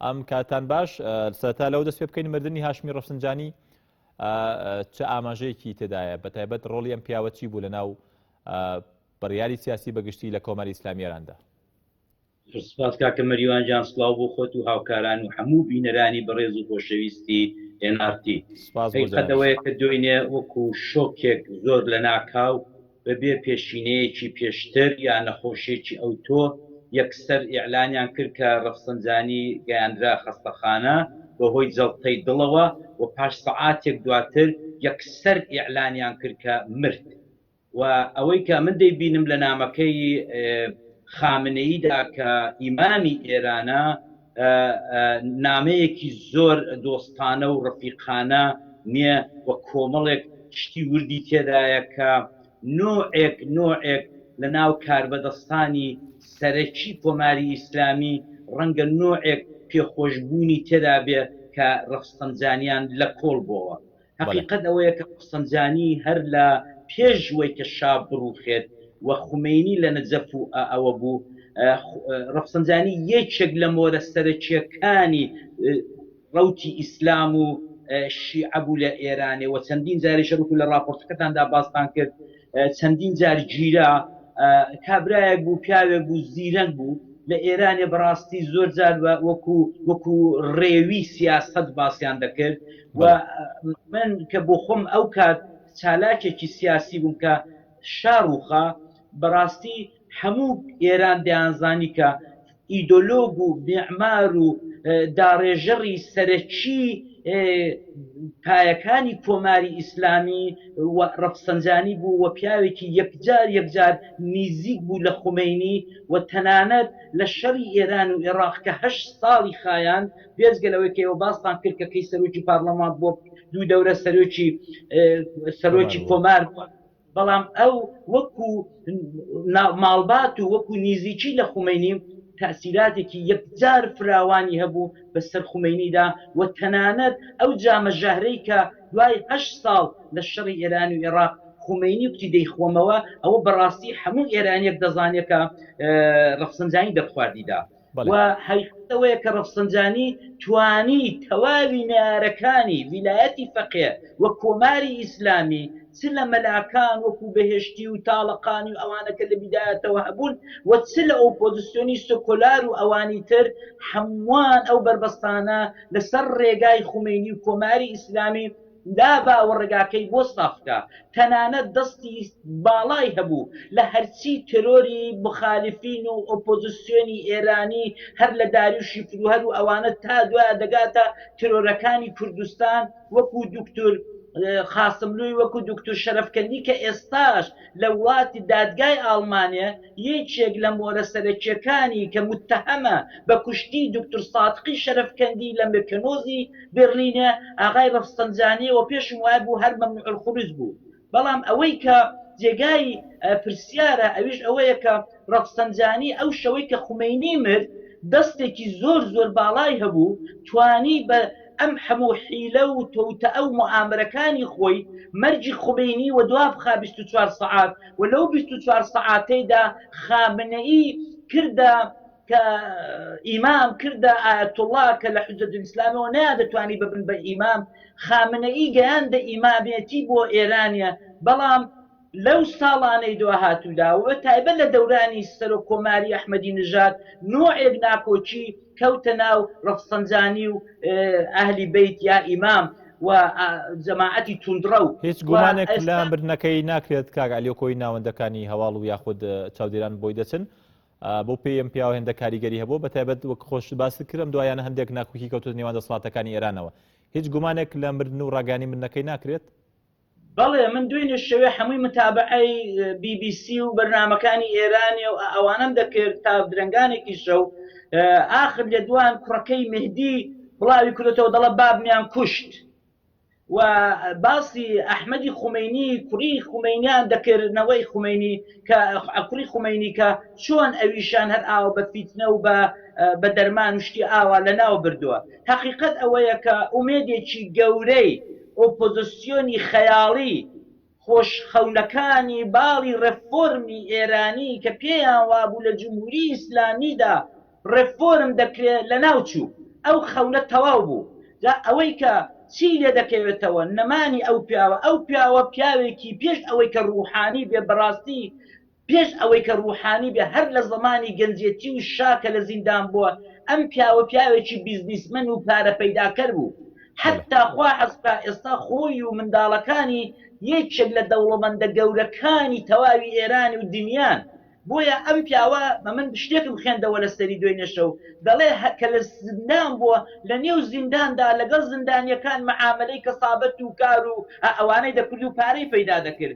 ئەم کاتان باش سەتا لەو دەست پێ بکەین مردنی هاشمی ڕفسنجانی چ ئاماژەیەکی تێدایە بە تایبەت ڕۆڵی ئەم پیاوە چی بوو لە ناو بڕیاری سیاسی بەگشتی لە کۆماری ئسلامیێراندا سپاس کاکە مەریوان جان سلااو بۆ خۆت و هاوکاران و هەموو بینەرانی بەڕێز و خۆشەویستی ئێنارتی سپاسەوەی کە دوێنێ وەکو شۆکێک زۆر لە ناکاو بەبێ پێشینەیەکی پێشتر یا نەخۆشیەکی ئەوتۆ یەکسەر ئیعلانیان کرد کە رەفسەنجانی گەیاندرا خەستەخانە بەهۆی جەڵتەی دڵەوە و پاش سەعاتێک دواتر یەکسەر ئیعلانیان کرد کە مرد و ئەوەی کە من دەیبینم لە نامەکەی خامنەییدا کە ئیمامی ئێرانە نامەیەکی زۆر دۆستانە و ڕەفیقانە نیە و کۆمەڵێک شتی وردی تێدایە کە نۆعێک نۆعێک لە ناو کاربەدەستانی سەرەکی کۆماری ئیسلامی ڕەنگە نۆعێک پێخۆشبوونی تێدا بێ کە ڕەفسەنجانیان لە کۆڵ بۆوە هەقیقەت ئەوەیە کە ئۆفسەنجانی هەر لە پێش وەی کە شا بڕوخێت و خومەینی لە نەجەف و ئەوە بوو ڕەفسەنجانی یەکێک لە مۆرە سەرەکیەکانی ڕەوتی ئیسلام و شیعە بوو لە ئێرانێ و چەندین جاریشە وەکو لە ڕاپۆرتەکەتاندا باستان کرد چەندین جار گیرا کابرایەک بوو پیاوێک بوو زیرەک بوو لە ئێرانێ بەڕاستی زۆر جار وەکو وەکو ڕێوی سیاسەت باسییان دەکرد و من کە بۆ خۆم ئەو کات چالاکێکی سیاسی بووم کە شاڕوخا بەڕاستی هەموو ئێران دەیانزانی کە ئیدۆلۆگ و میعمار و داڕێژەڕی سەرەکیی پایەکانی کۆماری ئیسلامی و ڕەفسەنجانی بوو و پیاوێکی یەکجار یەکجار نیزیک بوو لە خومەینی و تەنانەت لە شەڕی ئێران و ئێڕاق کە هەشت ساڵی خایاند بێجگە لەوەی کە ئێوە باستان کرد کە کەی سەرۆکی پارڵەمان بووە دوو دەورە سەرۆکی سەرۆکی کۆمار بووە. بەڵام ئەو وەکو ماڵبات و وەکو نیزیکی لە خومەینی تەئسیراتێکی یەکجار فراوانی هەبوو بەسەر خومەینیدا و تەنانەت ئەو جامە ژەهرەی کە دوای هەشت ساڵ لە شەڕی ئێران و ئێڕاق خومەینی کوتی دەیخۆمەوە ئەوە بەڕاستی هەموو ئێرانیەک دەزانێت کە ڕەفسەنجانی دەرخواردی دا و حەیفیش ئەوەیە کە ڕەفسەنجانی توانی تەواوی نەیارەکانی ویلایەتی فەقێ و کۆماری ئیسلامی چ لە مەلاکان وەکوو بەهێشتی و تاڵەقانی و ئەوانە کە لە بیدایەتەوە هەبوون و چ لە ئۆپۆزسیۆنی سۆکۆلار و ئەوانی تر هەمووان ئەو بەربەستانە لە سەر ڕێگای خومەینی و کۆماری ئیسلامی دابا و ڕێگاکەی بۆ سافکا تەنانەت دەستی باڵای هەبوو لە هەرچی تێرۆری موخالیفین و ئۆپۆزسیۆنی ئێرانی هەر لە داریوشی فروهەر و ئەوانە تا دوایە دەگاتە تێرۆرەکانی کوردستان وەکوو دوکتور قاسملووی وەکوو دوکتور شەرەفکەندی کە ئێستاش لە وڵاتی دادگای ئاڵمانێ یەکێک لە مۆرە سەرەکیەکانی کە موتەهەمە بە کوشتنی دوکتور سادقی شەرەفکەندی لە میرکەنۆزی بێرلینێ ئاغای رەفسەنجانیەوە پێشم وای بوو هەر مەمنوع الخروج بوو بەڵام ئەوەی کە جێگای پرسیارە ئەویش ئەوەیە کە رەفسەنجانی ئەو شەوەی کە خومەینی مرد دەستێکی زۆر زۆر باڵای هەبوو توانی بە ئەم هەموو حیلە و توتئە و موئامەرەکانی خۆی مەرگی خومەینی وەدوابخا بیست و چوار سەعات و لەو بیست و چوار سەعاتەیدا خامنەیی کردە کە ئیمام کردە ئایەتوڵا کە لە حوجەتول ئیسلامەوە نەیاندەتوانی ببن بە ئیمام خامنەیی گەیاندە ئیمامێتی بۆ ئێرانە بەڵام لەو ساڵانەی دواهاتوودا و بە تایبەت لە دەورانی سەرۆک کۆماری ئەحمەدی نژاد نۆعێک ناکۆکی کەوتە ناو ڕەفسەنجانی و ئەهلی بەیت یا ئیمام و جەماعەتی توندڕەو. هیچ گومانێک لە مردنەکەی ناکرێت کاک عەلی و کۆی ناوەندەکانی هەواڵ و یاخود چاودێران بۆی دەچن. بەو پێیەی ئەم پیاوە هێندە کاریگەری هەبووە، بەتایبەت وەک خۆشت باست کرد ئەم دواییانە هەندێک ناکوکی کەوتۆتە نێوان دەسەڵاتەکانی ئێرانەوە. هیچ گومانێک لە مردن و ڕاگەیاندنی مردنەکەی ناکرێت؟ بەڵێ من دوێنێ شەوێ حەمووی متابەعەی بی بی سی و بەرنامەکانی ئێرانێ و ئەوانم دەکرد تا درەنگانێکی شەو ئاخر لە دوان کوڕەکەی مهدی بڵاوی کردێتەوە دەڵە بابمیان کوشت و باسی ئەحمەدی خومینی کوڕی خومینیان دەکردنەوەی خومینی کە کوڕی خومینی کە چۆن ئەویشان هەر ئاوە بە فیتنە و بە بە دەرمان شتی ئاوا لە ناو بردووە هەقیقەت ئەوەیە کە ئومێدێکی گەورەی ئۆپۆزسیۆنی خەیاڵی خۆش خەونەکانی باڵی ڕێفۆرمی ئێرانی کە پێیان وابوو لە جمهوری ئیسلامیدا ڕێفۆرم دەکرێ لەناو چوو. ئەو خەونە تەواو بوو. جا ئەوەی کە چی لێ دەکەوێتەوە نەمانی ئەو پیاوە. ئەو پیاوە پیاوێکی پێش ئەوەی کە ڕووحانی بێ بەڕاستی پێش ئەوەی کە ڕوحانی بێ هەر لە زەمانی گەنجێتی و شا کە لە زیندان بووە ئەم پیاوە پیاوێکی بیزنیسمەن و پارە پەیداکەر بوو حەتا خوا حەز بکا ئێستا خۆی و منداڵەکانی یەکێک لە دەوڵەمەندە گەورەکانی تەواوی ئێران و دنیان بۆیە ئەم پیاوە من شتێکم خوێندەوە لە سەری دوێنێ شەو دەڵێ کە لە زیندان بووە لە نێو زیندان دا لەگەڵ زیندانیەکان معامەلەی کەسابەت و کار و ئەوانەی دەکرد و پارەی پەیدا دەکرد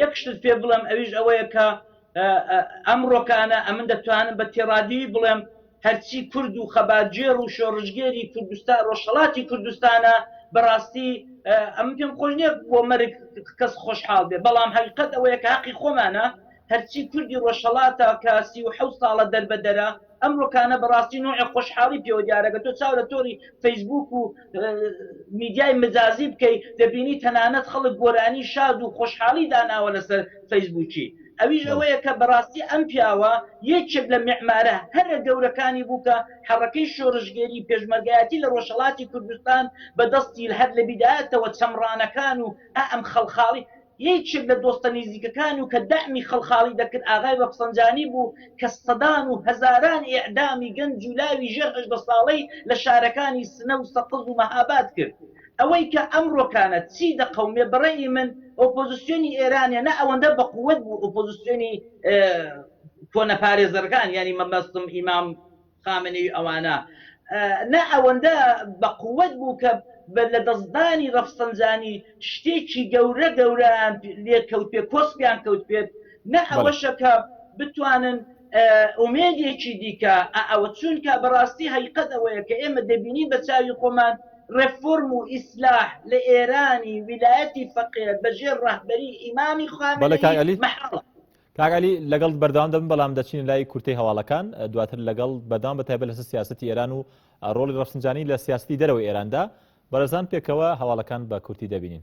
یەک شتت پێ بڵێم ئەویش ئەوەیە کە ئەمڕۆکانە ئەمن دەتوانم بە تێڕادیوی بڵێم هەرچی کورد و خەباتگێڕ و شۆڕشگێری کوردستان ڕۆژهەڵاتی کوردستانە بەڕاستی ئەم پێم خۆش نییە بۆ مەرگ کەس خۆشحاڵ بێ بەڵام هەقیقەت ئەوەیە کە هەقی خۆمانە هەرچی کوردی ڕۆژهەڵاتە کە سی و حەوت ساڵە دەربەدەرە ئەم ڕوکانە بەڕاستی نوعێک خۆشحاڵی پێوە دیارە گەر تۆ چاو لە تۆری فەیسبووک و میدیای مجازی بکەی دەبینی تەنانەت خەڵک گۆرانی شاد و خۆشحاڵی داناوە لەسەر فەیسبووکی ئەویش ئەوەیە کە بەڕاستی ئەم پیاوە یەکێک لە میعمارە هەرە گەورەکانی بوو کە حەڕەکەی شۆڕشگێری پێشمەرگایەتی لە ڕۆژهەڵاتی کوردستان بە دەستی هەر لە بیدایەتەوە چەمڕانەکان و ئا ئەم خەڵخاڵی یەیکێک لە دۆستە نیزیکەکانی و کە دەعمی خەڵخاڵی دەکرد ئاغای رەفسەنجانی بوو کە سەدان و هەزاران ئیعدامی گەنج و لاوی ژێر هەژدە ساڵەی لە شارەکانی سنە و سەقز و مەهاباد کرد. ئەوەی کە ئەمڕۆکانە چی دەقەومێ بە رەئی من ئۆپۆزسیۆنی ئێرانە نە ئەوەندە بە قووەت بوو ئۆپۆزسیۆنی کۆنە پارێزەرگان یانی مەبەستم ئیمام خامنەیی ئەوانە نا ئەوەندە بە قوەت بوو کە بە لە دەست دانی ڕەفسەنجانی شتێکی گەورە گەورەیان لێ کەوت پێ کۆسپیان کەوت پێ نا ئەوەشە کە بتوانن ئومێدێکی دیکە ئە ئەوە چونکە بە ڕاستی هەیقەت ئەوەیە کە ئێمە دەبینین بە چاوی خۆمان ڕێفۆرم و ئیسلاح لە ئێرانی ویلایەتی فەقێ بە ژێر ڕەهبەری ئیمامی خامنەیی مەحاڵە. کاک عەلی لەگەڵت بەردەوام دەبم بەڵام دەچینە لای کورتەی هەواڵەکان دواتر لەگەڵ بەردەوام بە تایبەت لەسەر سیاستی ئێران و ڕۆڵی ڕەفسنجانی لە سیاستی دەرەوەی ئێراندا بەرەزان پێکەوە هەواڵەکان بە کورتی دەبینین.